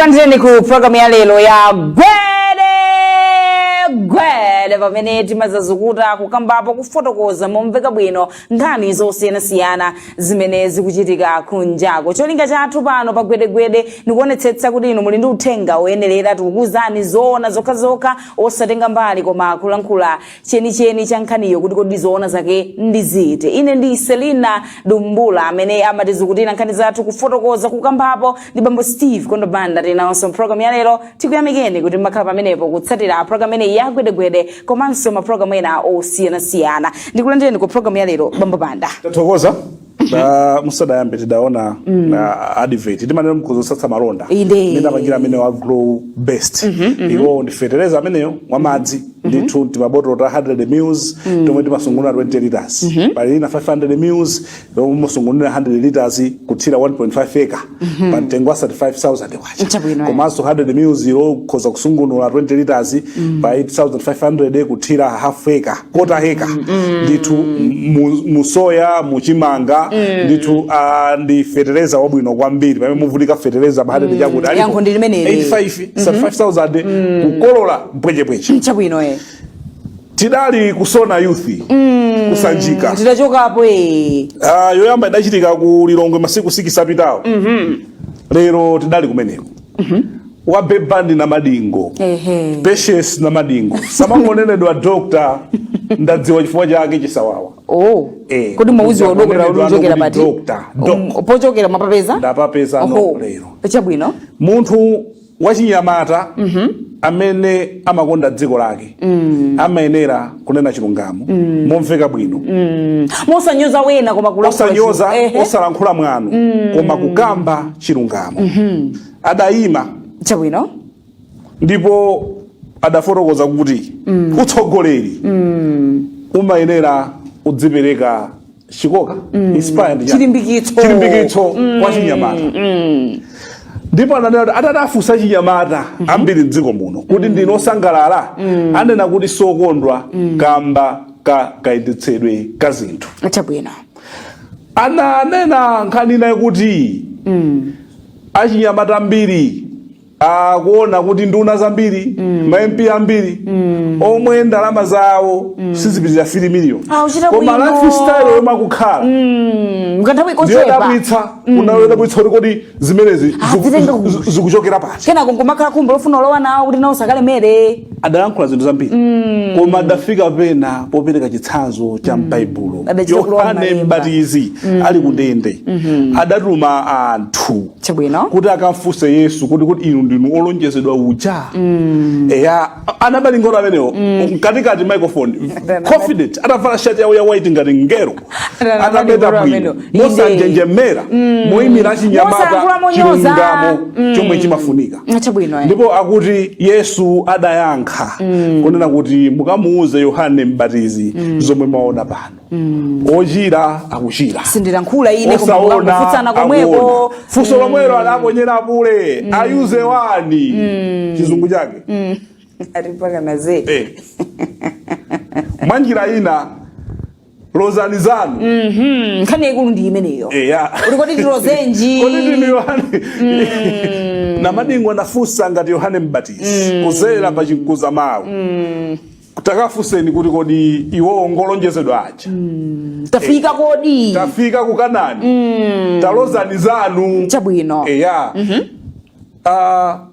Takulandirani ku programu ya lero ya gwedegwede pamene timazazukuta kukambapo kufotokoza momveka bwino nkhani zosiyanasiyana zimene zikuchitika kunjako cholinga chathu pano pa gwedegwede ndikuonetsetsa kuti inu muli ndi uthenga woyenerera tikukuuzani zoona zokhazokha osatenga mbali koma kulankhula chenicheni cha nkhaniyo kuti kodi zoona zake ndi ziti ine ndi selina dumbula amene amatizukutira nkhani zathu kufotokoza kukambapo ndi bambo steve kondo banda tinawonso mpulogalamu ya lero tikuyamikeni kuti mmakhala pamenepo kutsatira pulogalamu imeneyi ya gwedegwede komanso mapulogalamu ena osiyanasiyana ndikulandireni ku pulogalamu ya lero bambo banda tathokoza Da- musadayambe tidaona na advert timanena nkhuzo otsatsa malonda Inde. ndidapangira amene wa grow best iwo ndi fetereza ameneyo wa madzi ndithu timabotolo ta 100 mils tomwe timasungunula 20 liters pali ina 500 mils yomwe mumasungunula 100 liters kuthira 1.5 acre pa mtengo wa 35000 kwacha Chabwino, eh. komanso 100 mils ilo ukhoza kusungunula 20 liters pa 8500 kuthira half acre quarter acre ndithu mu- musoya muchimanga ndithu ah, ndi fetereza wabwino kwambiri pamene muvutika fetereza pa 100 chakuti alipo Yankho ndi limeneli. 85 35000 kukolola mpwechepweche chabwino e tidali kusona youth kusanjika titachokapo e Ah, yoyamba idachitika ku lilongwe masiku 6 apitawo lero tidali kumeneko wabeba ndi namadingo Ehe. patience namadingo samangonenedwa doctor ndadziwa chifukwa chake chisawawa oh Eh, kodi mawu awa dokotala ndikuonera uli kuchokera kuti pati doctor, doc. Um, pochokera mapapeza Ndapapeza Oho. no lero. chabwino munthu wachinyamata amene amakonda dziko lake amayenera kunena chilungamo momveka bwino mosanyoza wina koma kulankhula osanyoza zinthu. Ehe. osalankhula mwano koma kukamba chilungamo adayima chabwino ndipo adafotokoza kuti utsogoleri umayenera uzipereka chikoka mm. inspire ndi chilimbikitso chilimbikitso mm. kwa achinyamata mm. ndipo ananena kuti atati afunse achinyamata mm -hmm. ambiri mdziko muno kuti mm. ndinu osangalala mm. anena kuti sokondwa mm. kamba ka kayendetsedwe ka zinthu chabwino ananena nkhani inayi kuti mm. achinyamata ambiri akuona kuti nduna zambiri mm. ma MP ambiri mm. omwe ndalama zawo mm. sizipitirira 3 million Ah, uchita koma bwino. lifestyle yomwe akukhala Mm, mkanthawi kochepa ndiyodabwitsa yodabwitsa kuti kodi zimenezi ziku- zitenga ku- zi- zikuchokera pati kenako nkumakhala khumbo lofuna kulowa nawo kuti nawonso akalemere adalankhula zinthu zambiri koma adafika pena popereka chitsanzo cha m'baibulo Adachita kulowa yohane m'malemba. mbatizi ali kundende adatuma anthu chabwino kuti akamfunse yesu kodi kuti inu ndinu olonjezedwa uja eya anabalingolo amenewo mkatikati microphone confident atavala shati yawo ya white ngati mngelo Anabali atabeta ngoro bwino amenewo. Inde. mosanjenjemera moyimira achinyamata Mosayankhula monyoza. chilungamo chomwe chimafunika chabwino eh. ndipo akuti yesu adayankha kunena kuti mukamuuze yohane mbatizi zomwe mwaona pano ochira akuchira sindilankhula ine koma osaona kukangofutsana komweko akuona funso lomwelo adaponyera apule ayuze wani chizungu chake atipakana zedi Eh. mwa njira ina lozani zanu Mm, nkhani yaikulu ndi imeneyo eya Uli kodi tilozenji? Kodi ndinu yohane namadingo anafunsa ngati yohane mbatizi kudzera pa chimkuza mawu takafunseni kuti kodi iwo ngolonjezedwa aja mm, tafika eh, kodi tafika ku kanani mm, talozani zanu chabwino eya mm -hmm. uh,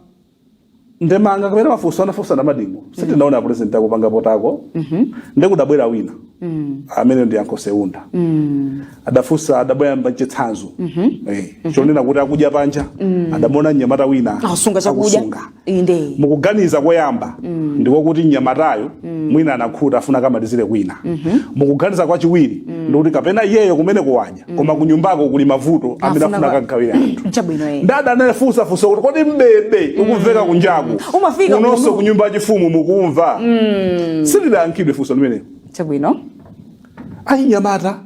ndemanga kapena mafunso anafunsa namadingo mm. sitinaona apresident akupanga potako mm -hmm. ndekudabwera wina mm. amene ndi Uncle Seunda mm. adafunsa adabwera mbachitsanzo mm -hmm. eh, mm -hmm. chonena kuti akudya panja mm. adaona mnyamata wina asunga chakudya Inde. mukuganiza koyamba ndiko kuti mnyamatayo mwina anakhuta afuna akamalizire kwina mukuganiza kwachiwiri ndikuti kapena iyeyo kumene kuwadya koma kunyumbako kuli mavuto amene Afuna afuna kwa- akagawire anthu Chabwino eh. ndada anafunsa funso kuti kodi mbebe ukumveka kunjaku Umafika kunonso kuno. kunyumba yachifumu mukumva silidayankhidwe funso limenelo Chabwino. achinyamata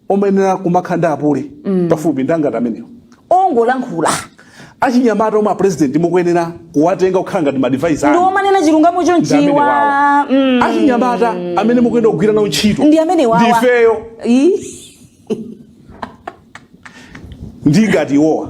omwe ayenera kumakhala ndi apule pafupi ndi ngati amenewa ongolankhula achinyamata omwe apurezidenti mukuyenera kuwatenga kukhala ngati maadvisor anu omanena chilungamo ndi amene chonchiwa wawa Mm. achinyamata amene mukuyenera kugwira nawo ntchito ndi amene wawa ndi ifeyo Ii. ndi ngati iwowa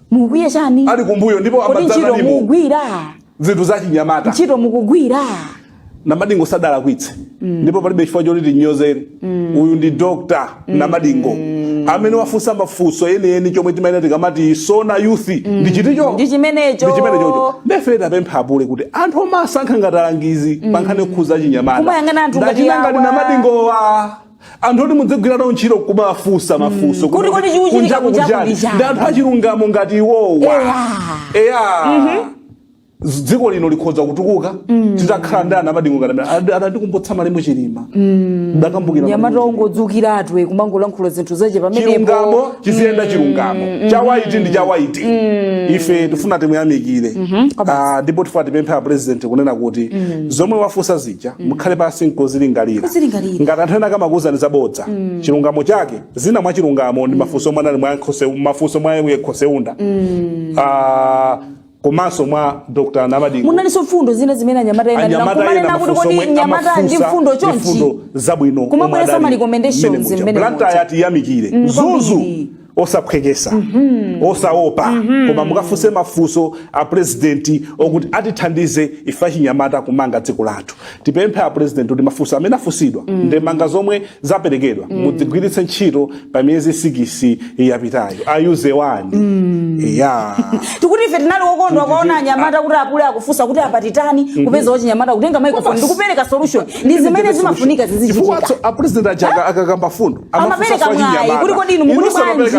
mukukwiya chani ali kumbuyo ndipo kodi ntchito amadzana nimo mukugwira zinthu zachinyamata ntchito mukugwira namadingo sadalakwitse ndipo palibe chifukwa choti tinyozere uyu ndi dr namadingo amene wafunsa mafunso enieni chomwe timayenera tikamati sona youth ndi chiticho Ndi chimenecho. ndi chimenecho ndefe tapempha apule kuti anthu omasankha ngati alangizi pankhani yokhudza achinyamata Kumayang'ana anthu ngati Ndachita ngati awa. namadingowa anthu oti mudzigwira nawo ntchito kumafunsa mafunso Kuti kodi chikuchitika kunjaku kunjaku kuli chani ndi chani? ndi anthu achilungamo ngati iwowa eya Z- dziko lino likhoza kutukuka titakhala ndi anamadingo ngati amene. Anandikumbutsa malemu chilima ndakumbukira mnyamata Malemu Chilima. ongodzukiratu e kumangolankhula zinthu zache pamenepo chilungamo chiziyenda chilungamo chawaiti ndi chawaiti ife tifuna timuyamikire Ah, ndipo tifuna tipemphe a president kunena kuti zomwe wafunsa zi zija mm. mukhale pansi nkuzilingalira ngati anthu ena akamakuuzani zabodza mm. chilungamo chake zina mwa chilungamo ndi mm. mafunso omwe anali mafunso mwa yemwe khoseunda mm. uh, ah, komanso mwa dr namadingo munalinso mfundo zina zimene anyamata ena kumanena kuti kodi mnyamata ndi mfundo chonchi mfundo zabwino kumabweretsa ma recommendations zimene blantyre yati yamikire mzuzu osaphwekesa osaopa koma mukafunse mafunso a purezidenti okuti atithandize ife achinyamata kumanga dziko lathu tipemphe a purezidenti kuti mafunso amene afunsidwa ndemanga zomwe zaperekedwa mudzigwiritse ntchito pa miyezi sikisi yapitayo ayuze wani ya tikuti ife tinali okondwa kuwaona anyamata kuti apule akufunsa kuti apa titani kupeza wachinyamata kutenga microphone ndikupereka solution ndi zimene zimafunika zizichitika chifukwa a purezidenti aja akakamba mfundo amapereka mwayi kuti kodi inu mukuti bwanji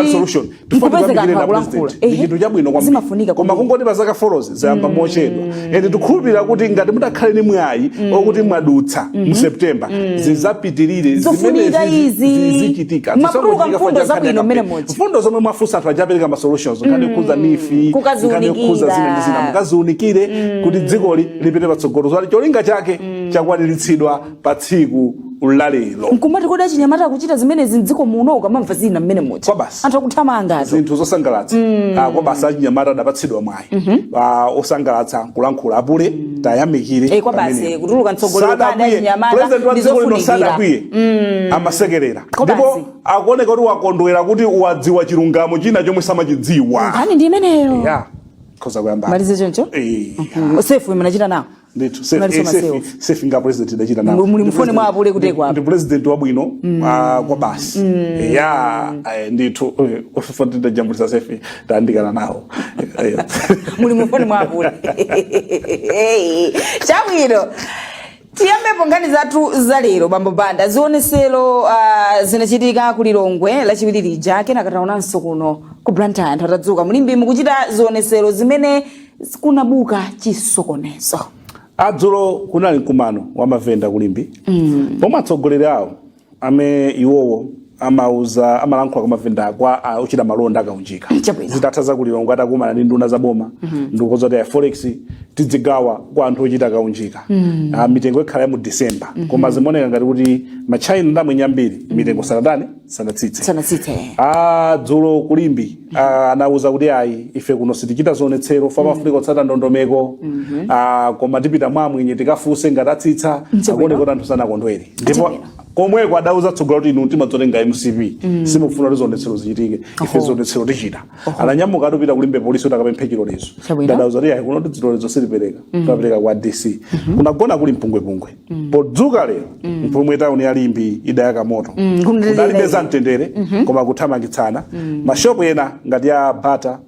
mkupezeka anthu akulankhula chinthu chabwino kwambiri koma kungoti pa zaka folozi zayamba mochedwa ende tikhulupirira kuti ngati mutakhale ni mwayi okuti mwadutsa mu september zizapitirire Zofunika izi. zizichitika Mwatuluka mfundo zabwino mmene mochi. mfundo zomwe mwafunsa anthu aja apereka ma solutions nkhani yokhudza neef Kukaziunikira. nkhani yokhudza zina ndi zina mukaziunikire kuti dzikoli lipite patsogolo zoti cholinga chake chakwaniritsidwa pa tsiku la lero nkumati kodi achinyamata kuchita zimenezi mdziko muno ukamamva zina mmene muti Kwabasi. anthu akuthamanga azo zinthu zosangalatsa Ah, kwabasi achinyamata adapatsidwa mwayi Ah, osangalatsa kulankhula apule tayamikire Eh, kwabasi, pamenepo. kutuluka mtsogoleri Sadakwiye. kada achinyamata President wa ndi dziko lino zofunikira. sadakwiye amasekerera Kwabasi. ndipo akuoneka kuti wakondwera kuti wadziwa chilungamo china chomwe samachidziwa nkhani ndi imeneyo ya khoza kuyamba malize choncho Eh. selfie imene achita nawo ndithu Safe- Unali eh, soma safe- sewu. selfie ndi a president ndidachita nawo. Mu- muli Ndi mfoni mwa president- apule kuteko ndi- apa. ndi president wabwino ah, kwabasi ya eh, ndithu eh, ufufuta tidajambulitsa selfie titayandikana nawo Eh, muli mufoni mwa apule chabwino tiyambepo nkhani zathu za lero bambo banda zionesero uh, zinachitika ku lilongwe lachiwiri lija kenaka taonanso kuno ku blantyre anthu atadzuka mu limbe mukuchita zionesero zimene kunabuka chisokonezo a dzulo kunali mkumano wa mavenda ku limbe pomwe atsogoleri awo amene iwowo amauza amalankhula kwa mavenda kwa ah, ochita malonda akaunjika Chabwino. zitatha za ku lilongwe atakumana ndi nduna za boma ndikukonza kuti a forex tidzigawa kwa anthu ochita kaunjika Ah, mitengo ikhala ya mu december koma zimaoneka ngati kuti matchaina ndi amwenye ambiri mitengo sanatani sanatsitse sanatsitse eh. a dzulo ku limbe a, anauza kuti ayi ife kuno sitichita zionetsero chifukwa pamafunika kutsata ndondomeko a, koma tipita mwa amwenye tikafunse ngati atsitsa Nchibwino. akuoneka kuti anthu sanakondwere ndipo Nchibwino. komweko adauza atsogoleri kuti inu timadzotenga mcp simufuna kuti zionetsero zichitike ife Oho. zionetsero tichita ananyamuka anthu kupita ku limbe polisi kuti akapemphe chilolezo Chabwino. nde adawauza kuti ayi kuno tidzilolezo sitipereka timapereka kwa dc kunagona kuli mpungwepungwe podzuka lero momwe tauni ya limbe idayaka moto Mm, kumdalira kudalibe iye. za mtendere koma kuthamangitsana mashopu ena ngati ya bata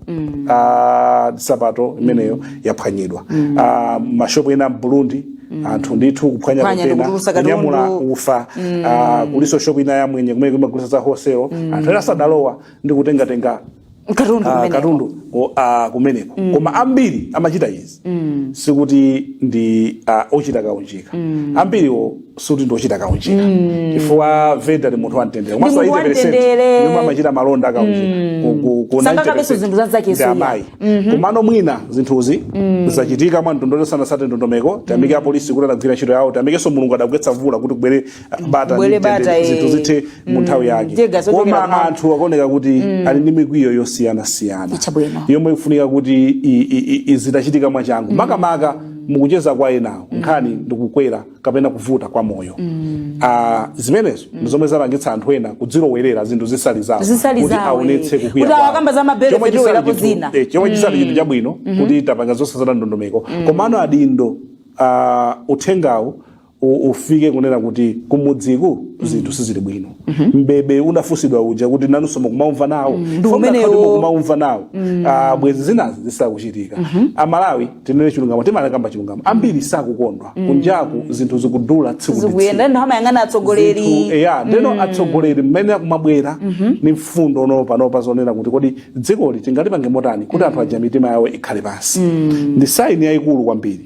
ah, sapato imeneyo yaphwanyidwa Ah, mashopu ena m'burundi anthu ndithu kuphwanya Kuphwanya kontena ndikutulusa katundu. kunyamula ufa ah, kuliso shopu ina ya mwenye kumene kumagulisa za hoselo anthu ena sadalowa ndi kutengatenga katundu ah, kumeneko. katundu o- ah, kumeneko koma ambiri amachita izi sikuti ndi ah, ochita kaunjika ambiriwo sikuti ndi ochita kaunjika chifukwa venda ndi munthu wamtendere Ndi munthu wamtendere. yomwe amachita malonda akaunjika Ku- ku- ku Sangakabenso 90% zinthu za zake ndi suya. amayi komano mwina zinthuzi zachitika mwa mtundu osatsata ndondomeko tiyamike apolisi kuti adagwira ntchito yawo tiyamikenso mulungu adagwetsa mvula kuti kubwere bata Bwere ndi bata, mtendere, zinthu eh. zithe mu nthawi yake Ndiye gazo chokera koma kumwamba. anthu akuoneka kuti ali ndi mikwiyo yosiyanasiyana Chabwino. yomwe ikufunika kuti i- i- i- i- zitachitika mwachangu makamaka mukucheza kwa enawo nkhani ndikukwera kapena kuvuta kwa moyo Ah, zimenezo ndi zomwe zapangitsa anthu ena kudzilowerera zinthu zisali zawo Zisali kuti zawo, aonetse eh. kukwiya Kuti kwawo. awakamba za mabere Chomwe fetiwera chisali chinthu- kuzina. eh, chomwe chisali chinthu chabwino kuti tipange zosatsata ndondomeko komano adindo ah, uthengawo u- ufike kunena kuti kumudziku zinthu sizili bwino mbebe unafunsidwa uja kuti nanunso mukumaumva nawo ndi Funa umenewo. kuti mukumaumva nawo Ah, bwezi zinazi zisakuchitika amalawi tinene chilungamo timalakamba chilungamo ambiri sakukondwa kunjaku zinthu zikudula tsiku ndi tsiku zikuyenda ndiye amayang'ana Zinthu, atsogoleri eya ndeno atsogoleri mmene akumabwera ni mfundo panopa zonena kuti kodi dzikoli tingalipange motani kuti anthu aja mitima yawo ikhale pansi ndi saini yayikulu kwambiri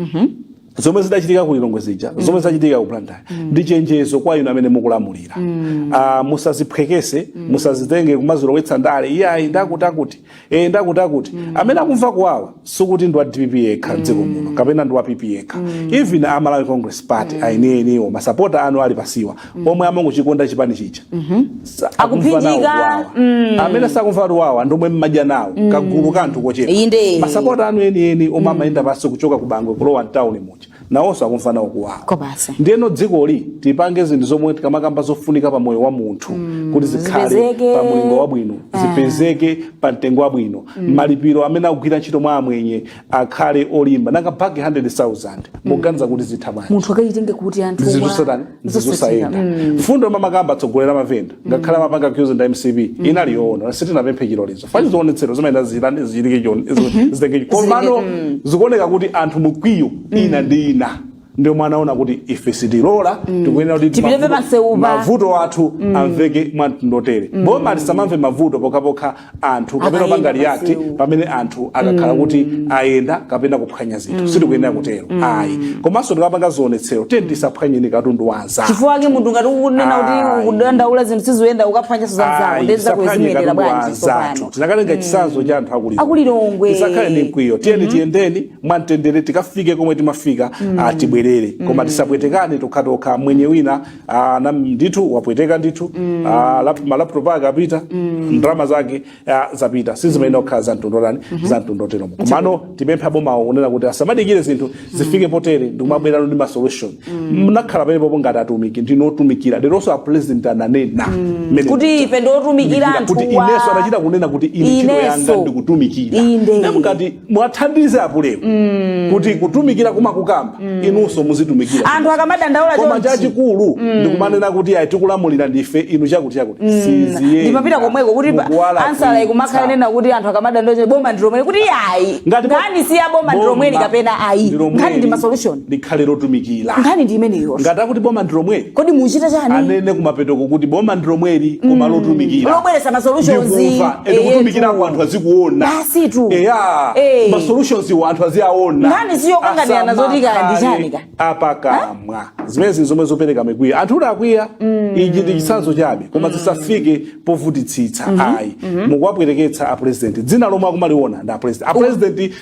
zomwe zidachitika ku lilongwe zija mm. zomwe zachitika ku blantyre mm. ndi chenjezo kwa inu amene mukulamulira mm. uh, musaziphwekese mm. musazitenge kumazilowetsa ndale iyayi ndi akutiakuti e, eh, ndi akutiakuti mm. amene akumva kuwawa sikuti ndi wa dpp yekha mm. m'dziko muno kapena ndi wa pp yekha mm. even a malawi congress party mm. enieniwo masapota anu ali pasiwa mm. omwe amangochikonda chipani chija mm -hmm. akuphinjika mm. amene sakumva kuwawa ndi omwe mmadya nawo mm. kagulu ka anthu kochepa masapota anu enieni omwe mm. amayenda pansi kuchoka ku bangwe kulowa mtawuni muja nawonso akumva nawo kuwawa ndiyeno dzikoli tipange zinthu zomwe tikamakamba zofunika pa moyo wa munthu mm. kuti zikhale pa mulingo wabwino eh. zipezeke pa mtengo wabwino mm. malipiro amene akugwira ntchito mwa amwenye akhale olimba nanga bag 100000 muganiza kuti zitha bwanji munthu akachitenge kuti anthu zinthu wa- satani zosachita. zosayenda Mm. mfundo yomwe amakamba atsogoleri a mavenda ngakhale amapanga accuse ndi a mcp inali yoona sitinapemphe chilolezo cha zionetsero zimayenda zilande zilike chon- zi- zitenge komano zikuoneka kuti anthu mikwiyo ina ndi ina ndi omwe anaona kuti ife sitilola sitikuyenera kuti Tipite mavuto- pamsewupa. mavuto athu amveke mwa mtundu wotere boma lisamamve mavuto pokhapokha anthu kapena Akayenda panga react pamsewu. pamene anthu akakhala kuti ayenda kapena kuphwanya zinthu sitikuyenera kutero ayi komanso tikapanga zionetsero tiyeni tisaphwanyeni katundu wa anzathu chifukwa chake munthu ngati ukunena kuti Ayi. ukudandaula zinthu sizikuyenda ukaphwanyanso za mzako nde ukuzimenyera bwanji tsopano tinakatenga chitsanzo cha anthu a ku Lilongwe A ku Lilongwe. tisakhale ndi mkwiyo tiyeni tiyendeni mwamtendere tikafike komwe timafika mm. uh, tibwerere koma mm. tisapwetekane tokhatokha mwenye wina uja ndithu wapwetekeka ndithu mm. uh, lap, malaptop ake apita mm. ndalama zake uh, zapita sizimayenera kukhala za mtundu otani mm -hmm. za mtundu woterowo komano tipemphe abomawo kunena kuti asamadikire zinthu zifike potere ndikumabwerano ndi masolution mnakhala pamenepo ngati atumiki ndinu otumikira leronso a president ananena mmene kuti ife ndi otumikira kuti anthuwa ineso anachita kunena kuti ine ntchito yanga Ineso. ndikutumikira Inde. namukati mwathandize apulemu mm. kuti kutumikira kumakukambaku mm. inunso muzitumikira anthu akamadandaula koma chachikulu mm. ndikumanena kuti ayi tikulamulira ndife inu chakuti chakuti mm. siziyenda ndikumapita komweko kuti ansala ikumakhala nena kuti anthu akamadandaula boma ndilomweli kuti ayi nkhani si ya boma ndi lomweli kapena ayi nkhani ndi ma solution likhale lotumikira nkhani ndi imeneyo ngati akuti boma ndi lomweli kodi muchita chani anene kumapetoko kuti boma ndi lomweli koma lotumikira lobweretsa ma solutions ndikumva and Eh, kutumikira tu. kwa anthu azikuona Basi tu. eya Eh. ma solutions wo anthu aziaona Nkhani si yokanganirana zoti kaya ndi chani ka. apakamwa zimenezi zinthu zomwe zopereka mikwiyo anthu kuti akwiya ichi ndi chitsanzo chabe koma zisafike povutitsitsa ayi mukuwapweteketsa a president dzina lomwe akumaliona ndi a president a president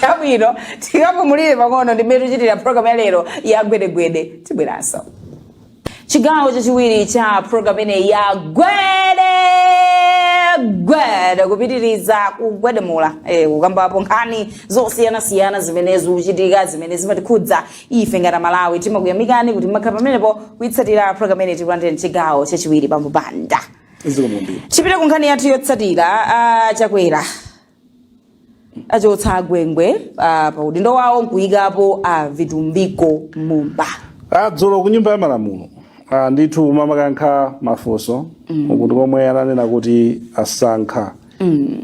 chabwino tikapumulire pang'ono ndimene tichitira programu ya lero ya gwedegwede tibweranso chigawo chachiwiri cha programu imeneyi ya gwede gwede kupitiriza kugwedemula eh, kukambapo nkhani zosiyanasiyana zimene zikuchitika zimene zimatikhudza ife ngati amalawi timakuyamikani kuti mmakhala pamenepo kuitsatira programu imeneyi takulandirani mchigawo chachiwiri bambo Banda zikomo kwambiri tipite ku nkhani yathu yotsatira ah, chakwera achotsa agwengwe ah, pa udindo wawo nkuyikapo a vitumbiko mumba adzulo ku nyumba ya malamulo ah, ndithu amayankha mafunso ukutu komwe ananena kuti asankha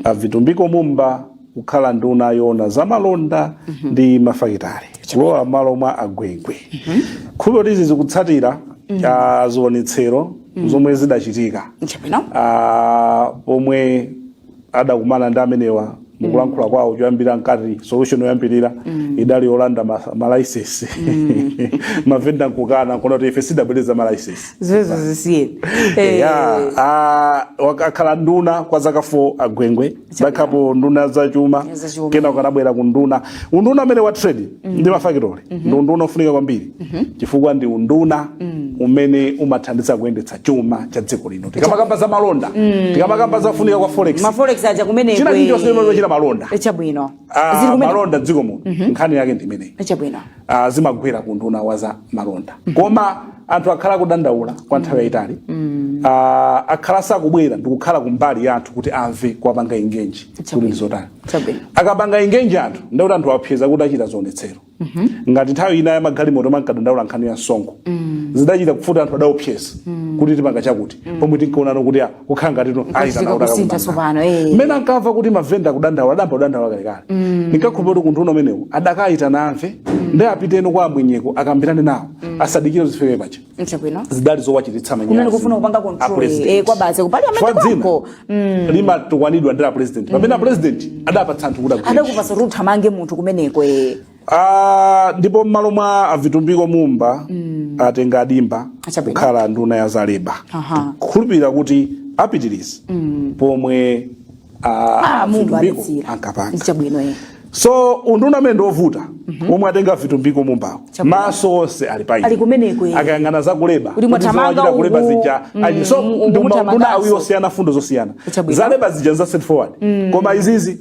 avitumbiko mumba kukhala nduna yoona za malonda ndi mafakitale kulowa malo mwa agwengwe chikhulupiriro choti izi zikutsatira ah, zionetsero zomwe zidachitika chabwino ah, pomwe adakumana ndi amenewa mukulankhula kwawo choyambirira mkati solution yoyambirira idali yolanda ma- malaisensi mavenda mkukana nkunena kuti ife sitabwerera malaisensi zimenezo zisiyeni Eh, ya a- wak- akhala nduna kwa zaka 4 agwengwe adakhalapo nduna ya zachuma Zachuma. kenako anabwera ku nduna unduna umene wa trade ndi mafakitori ndi unduna ofunika kwambiri chifukwa ndi unduna umene umathandiza kuyendetsa chuma cha dziko lino tikamakamba za malonda tikamakamba za kufunika kwa forex ma forex aja kumene china chilichonse chimene timachita malonda chabwino Ah, zili kumene malonda dziko muno nkhani yake ndi imeneyi chabwino Ah, zimagwera ku nduna wa za malonda koma anthu akhala akudandaula kwa nthawi yayitali Ah, akhala asakubwera ndikukhala kumbali ya anthu kuti amve kuwapanga ingenji kuti ndi zotani Chabwino. akapanga ingenji anthu ndikuti anthu awapseza kuti achita zionetsero ngati nthawi ina ya magalimoto mankadandaula nkhani ya msonkho zidachita kuvuta anthu adaopseza kuti tipanga chakuti pomwe tinkaonano kuti ah, kukhala ngati tu- ayi Kusiika kanautaka kusintha kumanga. tsopano, eh. mmene ankamva kuti mavenda kudandaula adayamba kudandaula kalekale ndinkakhulupirira kuti ku unduna umenewu adakayitana amve ndi apitenso kwa amwenyeko akambirane nawo asadikire zifike paja Chabwino. zidali zowachititsa Kunali manyazi kufuna kupanga a control president. eh, kwa basi ku parliament Chifukwa dzina kwako. Mm. limatukwanidwa ndi la president pamene a president adapatsa anthu kuti agwire Adakupatsa kuti uthamange munthu kumeneko eh. Ah, ndipo mmalo mwa avitumbiko mumba atenga adimba Achabwino. kukhala nduna ya za leba Aha. kukhulupirira kuti apitirize pomwe Ah, mungu vitumbiko adalekera ankapanga nchabwino ine so unduna umene ndi wovuta omwe atenga vitumbiko mumbawo Chabwino. maso onse ali pa Ali kumeneko, eh. akayang'ana zakuleba Kuti mwathamanga Kuti zawachita kuleba uku, zija mm, ayi so uku ndi maunduna muthamanganso. awiri osiyana fundo zosiyana Chabwino. zaleba zija za straightforward koma izizi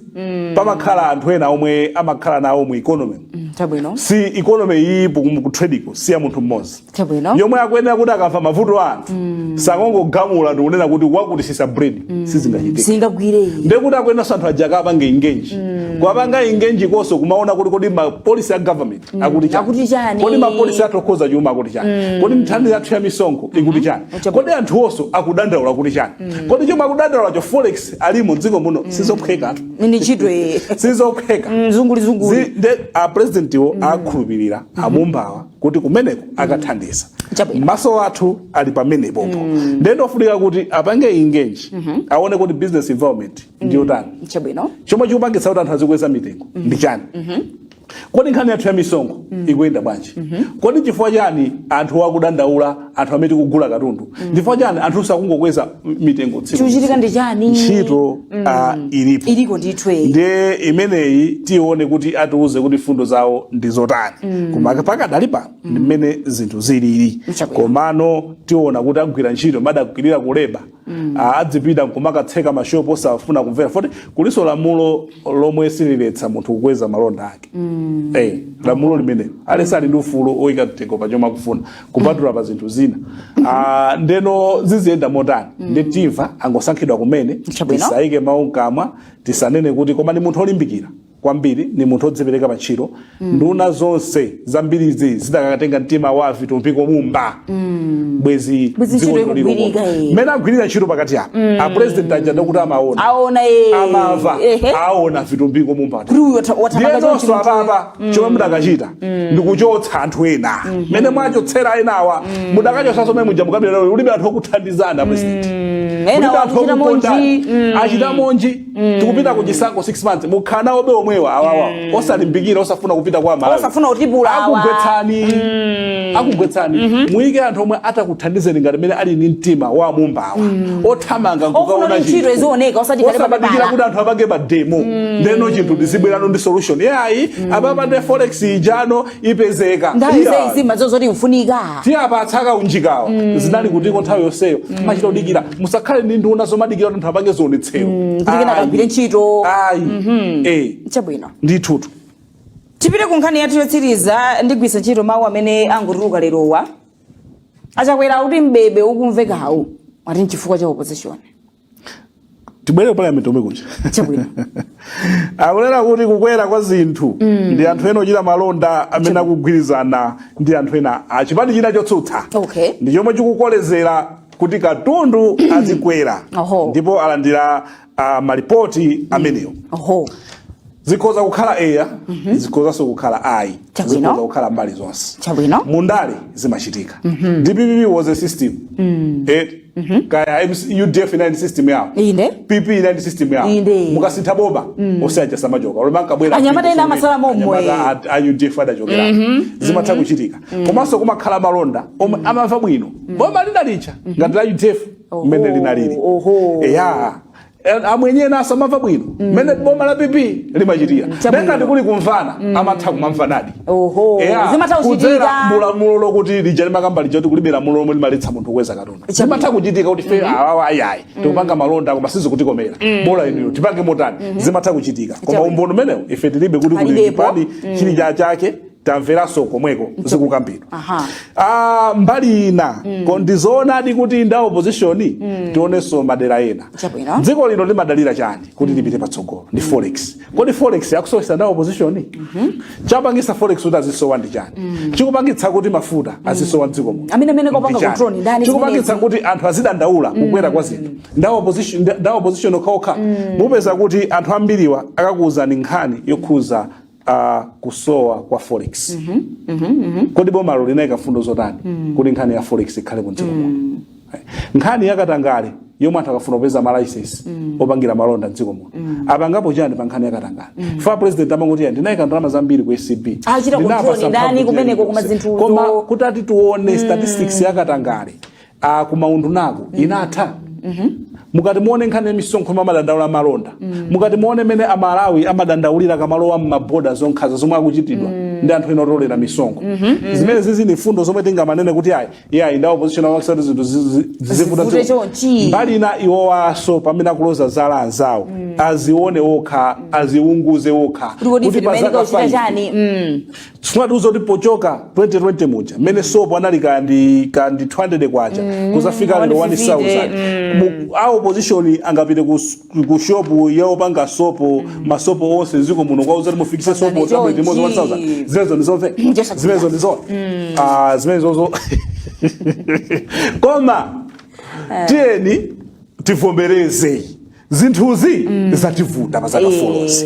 pamakhala anthu ena omwe amakhala nawo mu economy nchabwino si economy iyi kutradiko si ya munthu mmodzi Chabwino. yomwe akuyenera kuti akamva mavuto a anthu asakangogamula ndikunena kuti wakuti tsitsa bread sizingachitike singagwire iyi ndekuti akuyeneranso anthu aja akapange ingenji kuwapanga ingenji komanso kumaona kuti kodi mapolisi a government akuti chani? Akuti chani? kodi mapolisi athu okhudza chuma akuti chani kodi nthambi yathu ya misonkho ikuti chani Uchapu- kodi anthu onse akudandaula kuti chani kodi chomwe akudandaulacho forex alimo dziko muno sizophwekatu ni ntchito iyi sizophweka nzozungulirazungulira Zi- nde a president wo akhulupirira amumbawa kuti kumeneko akathandiza Chabwino. maso athu ali pamene pompo ndiye ndi ofunika kuti apange ingenji aone kuti business environment ndi yotani chabwino chomwe chikupangitsa kuti anthu azikweza mitengo ndi chani kodi nkhani yathu ya misonkho ikuyenda bwanji kodi chifukwa chani anthu akudandaula anthu amene tikugula katundu nchifukwa chani anthu akungokweza mitengo tsiku ndi chikuchitika ndi chani ntchito ah, ilipo iliko ndithu eyi ndiye imeneyi tione kuti atiuze kuti mfundo zawo ndi zotani koma pakadali pano ndi mmene zinthu zilili Mchabwino. komano tiona kuti agwira ntchito mmene adagwirira kuleba mm. adzipita nkumakatseka mashopu osafuna kumvera poti kulinso lamulo lomwe sililetsa munthu kukweza malonda ake mm. hey, eh, lamulo limene aliyense ali ndi ufulu oyika mtengo pa chomwe akufuna kupatula pa zinthu zina uh, ndeno ziziyenda motani mm. ndi timva angosankhidwa kumene tisayike mawu mkamwa tisanene kuti koma ndi munthu olimbikira kwambiri ni munthu odzipereka pa ntchito nduna zonse zambirizi zidakatenga mtima wa Vitumbiko Mumba bwezi Bwezi dziko ntchito lino ikugwirika, lino. eh. mmene agwirira ntchito pakati apa a president aja ndekuti amaona aona eh. amava Ehe. aona Vitumbiko Mumba kuti uyu watha- wathamanga chonchi ndiyenonso munthu uyu. apapa chomwe mudakachita ndikuchotsa anthu ena mmene mwachotsera enawa mudakachotsanso mmene muja mu cabinet mulibe anthu okuthandizani a president Mm, ena Mulibe anthu wakuchita monji okukondani. achitamonji tikupita ku chisankho 6 months mukhala nawobe omwewa awawa osalimbikira osafuna kupita kwa aMalawi Osafuna kutipula awa. akugwetsani akugwetsani muyike anthu omwe atakuthandizeni ngati mene ali ndi mtima wa a Mumbawa othamanga Ofuna nkukaona kuti ntchito izioneka, osati kale pa osamadikira pepala. kuti anthu apange ma demo ndeno chinthu ndizibwerano ndi solution yayi apapa ndi forex ijano ipezeka nthawi Iya. zaizi mazo zoti mfunika tiwapatsa akaunjikawa zinali kutiko nthawi yonseyo machita kudikira musakhale ndi nduna zomadikira kuti anthu apange zionetsero kuti kena Ayi. kagwire ntchito ayi Eh, chabwino ndithutu tipite ku nkhani yathu yotsiriza ndigwisa ntchito mawu amene angotuluka lerowa a Chakwera kuti mbebe ukumvekawu ati nchifukwa cha opposition tibwere ku parliament komwe kuja chabwino akunena kuti kukwera kwa zinthu ndi anthu ena ochita malonda amene akugwirizana ndi anthu ena a chipani china chotsutsa Okay. ndi chomwe chikukolezera kuti katundu azikwera Oho. ndipo alandira ah, malipoti amenewo oho zikhoza kukhala eya zikhozanso kukhala ayi Chabwino. zikhoza kukhala mbali zonse Chabwino. mundale zimachitika dpp was a system Eh, kaya MC udf inali ndi system yawo Inde. pp inali ndi system yawo Inde. mukasintha boma onse aja samachoka olo mwangobwera Anyamata ena amasala mommo, eh. Anyamata a- a udf adachokera zimatha kuchitika komanso kumakhala amalonda omwe amamva bwino boma lina lija ngati la udf mmene linalili Oho. eya Eh, amwenye ena asamamva bwino mmene mm. boma la pp limachitira nde ngati kuli kumvana mm. amatha kumamvanadi kudzera mulamulo lokuti lija limakamba lija kuti kulibe lamulo lomwe limaletsa munthu kukweza katundu zimatha kuchitika kuti ife mm-hmm. awawa ayayi mm. tikupanga malonda koma sizikutikomera bola inuyo tipange motani mm-hmm. zimatha kuchitika koma umboni umenewo ife tilibe kuti kuli chipani chili chachake tamveranso komweko zikukambidwa Aha. Ah, mbali inayo ndizoonadi kuti nda opposition tionenso madera ena Chabwino. dziko lino limadalira chani kuti lipite patsogolo ndi forex kodi forex akusowesa nda opposition chapangisa forex kuti izisowa ndi chani chikupangitsa kuti mafuta azisowa mdziko muno Amene- amene akupanga Ndi chani? control ni ndani chikupangitsa zimenezi? kuti anthu azidandaula kukwera kwa zinthu nda opposition nda- nda opposition okhaokha mupeza kuti anthu ambiriwa akakuwuzani nkhani yokhuza za kusowa kwa forex kodi bomalo linayika fundo zotani kuti nkhani ya forex ikhale mdziko muno nkhani yakatangale yomwe anthu akamafuna kupeza malaisensi opangira malonda mdziko muno apangapo chani pa nkhani yakatangale ifa president amangoti "Ya, ndinayika ndalama zambiri ku acb Achita Ndinapasa control ndani mphamvu kumeneko, koma chilichonse." zinthu koma to- kutati tione statistics yakatangale a kumaundunaku inatha mukati muone nkhani ya misonkho momwe amadandaula amalonda mukati muone mene amalawi amadandaulira akamalowa mmabodazo nkhanza zomwe akuchitidwa ndi anthu ena otolera misonkho zimenezizi ndi mfundo zomwe tingamanene kuti ayi yayi nda opposition apangitsa kuti zinthu zizi- zizivuta Zivute choncho. chonchi. mbali ina iwowanso pamene akuloza zala anzawo azione wokha aziunguze wokha kuti kodi ife timayenera pazafa kuchita ife. chani Mm. sunatiuza kuti pochoka 2020 muja mmene sopo anali kaya ndi kaya ndi 200 kwacha kuzafika lero 1000 Mu- a opposition angapite ku s- ku shop ya opanga sopo masopo onse mdziko muno kukawauza kuti mufikise sopo Pangani zabwino chonchi. mmodzi 1000 zimenezo ndizomveka Muchesa zimenezo ndizona ah zimenezozo koma tiyeni tivombereze zinthuzi mm. zativuta pazaka e. folozi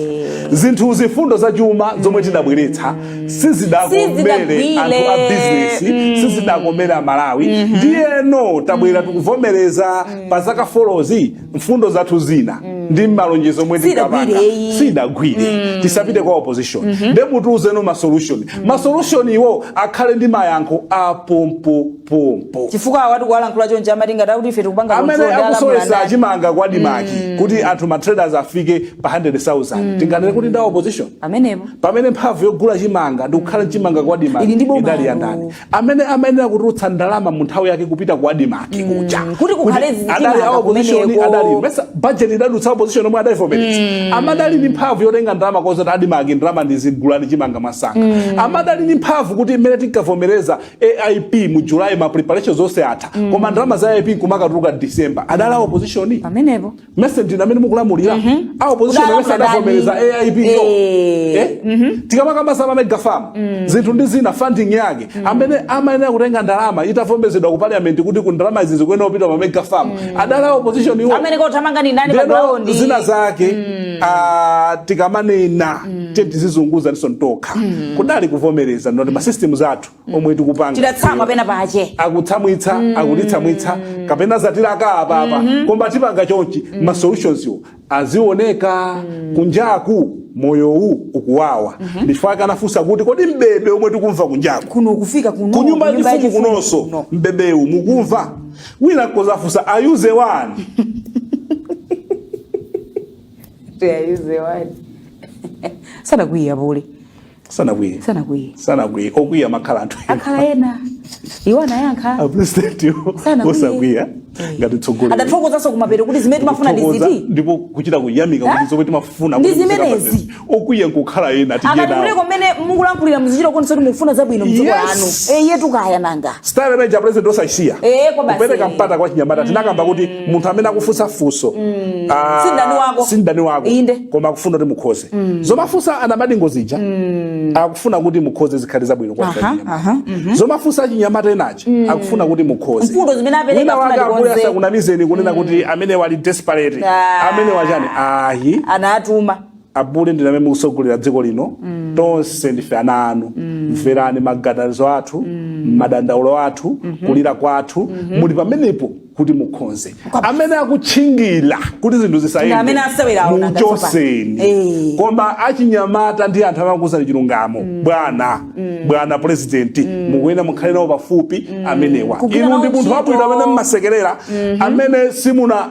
zinthuzi fundo za chuma zomwe tidabweretsa sizidakomere anthu a bizinesi mm. sizidakomere amalawi mm -hmm. ndiyeno tabwera mm. tikuvomereza mm. pazaka folozi mfundo zathu zina mm. ndi malonjezo omwe tinkapanga sidagwire mm. tisapite kwa opposition mm -hmm. nde mutiuze no masolution mm. masolutioniwo akhale ndi mayankho apompo pompo chifukwa awatu akuyankhula chonje amatinga kuti ife tikupanga amene control ndi akusowesa alamulanda. chimanga kwa adimaki kuti anthu ma traders afike pa 100,000 tinganene kuti nda opposition amenepo pamene mphamvu yogula chimanga ndikukhala chimanga kwa adimaki Ili ndi boma idali ya lanu. ndani amene amayenera kutulutsa ndalama mu nthawi yake kupita kwa adimaki kuja kuti kukhale Kuti chimanga adali a opposition kumeneko. adali nesa budget idadutsa opposition omwe adaivomereza koma adali ndi mphamvu yotenga ndalama kuwauza kuti adimaki ndalama ndi izi gulani chimanga mwansanga koma adali ndi mphamvu kuti mmene tinkavomereza AIP mu July ma preparations onse atha mm. koma ndalama za AIP kumakatuluka December adali a mm. opposition pamenepo nesa ndi inu amene mukulamulira mm -hmm. a opposition yonse adavomereza AIP yo eh, eh? mm -hmm. tikamakamba za ma mega farm mm. zinthu ndi zina funding yake mm. amene amayenera kutenga ndalama itavomerezedwa ku parliament kuti ku ndalama izi zikuyenera kupita pa mega farm mm. adali a opposition iwo amene akuthamanga ni ndani pa ground zina zake mm. uh, tikamanena mm. tete tiziunguze ni ife tokha yekha kudali kuvomereza ndoti masystems athu omwe tikupanga Tidatsamwa ifeyo. pena pache. akutsamwitsa akutitsamwitsa kapena zatilaka apapa koma tipanga chonchi ma solutions wo azioneka kunjaku moyowu ukuwawa ndifaka anafunsa kuti kodi mbebe omwe tikumva kunjaku kuno kufika kuno kunyumba kunyumba yachifumu yachifumu kunonso kuno. mbebewu mukumva wina kudzafunsa awuze wani awuze wani. Sanakwiye pule. sanakwiye Sanakwiya. sanakwiye okwiya amakhala anthu Akhala ena. Iwo anayankha. apresidenti Sanakwiye. osakwiya ngati tsogoleri Adathokozanso kumapeto kuti zimene timafuna ndi Kuthokoza ziti. ndipo kuchita kuyamika kuti zomwe timafuna Ndi zimenezi. okwiya nkukhala ena tidye akati nawo kuti mmene mukulankhulira muzichita kuonesa kuti mukufuna zabwino mdziko Yes. lanu eye tu kaya nanga style imene ya president osasiya Eh, kwa basi. kupereka mpata kwa chinyamata tinakamba kuti munthu amene akufunsa funso ah, Si mdani wako. si mdani wako Inde. koma akufuna kuti mukonze zomafunsa anamadingo zija akufuna kuti mukonze zikhale zabwino kwa Aha, chinyamata. aha, zomafunsa chinyamata enachi akufuna kuti mukonze Mfundo zimene apereka Wina afuna kuti tikonze. asakunamizeni kunena kuti amenewa ali desperate Ah. amenewa chani ayi anatumwa apule ndinu amene mukutsogolera dziko lino tonse ndife ana anu mverani maganizo athu madandaulo athu kulira kwathu muli pamenepo kuti mukonze amene akutchingira kuti zinthu zisayende muchoseni Eh. koma achinyamata ndi anthu amene akukuuzani chilungamo bwana bwana purezidenti mukuyenera mukhale nawo pafupi amenewa Kugwira nawo ntchito. inu ndi munthu wabwino amene mmasekerera amene simuna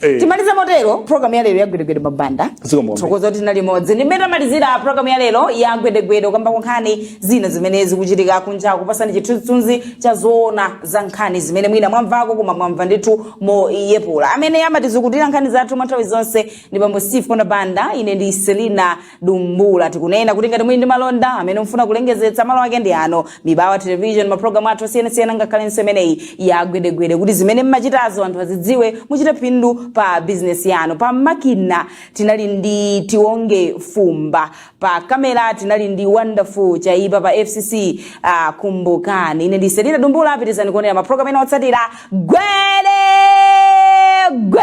Eh. timalize motero programu ya lero ya gwedegwede a Banda Zikomo. tithokoza kuti tinali limodzi ndi mmene tamalizira programu ya lero ya gwedegwede kukambako nkhani zina zimene zikuchitika kunja kukupatsani chithunzithunzi cha zoona za nkhani zimene mwina mwamvako koma mwamva ndithu moyepula amene amatizukutira nkhani zathu mwa nthawi zonse ndi bambo steve konda banda ine ndi selina dumbula tikunena kuti ngati muli ndi malonda amene mufuna kulengezetsa malo ake ndi ano mibawa television mapulogalamu athu osiyanasiyana ngakhalenso imeneyi ya gwedegwede kuti zimene mmachitazo anthu azidziwe muchite phindu pa bizinesi yanu pa makina tinali ndi tionge fumba pa kamera tinali ndi wonderful chaipa pa fcc uh, kumbukani ine ndiselina dumbula pitirizani kuonera mapulogalamu ena otsatira gwede gwe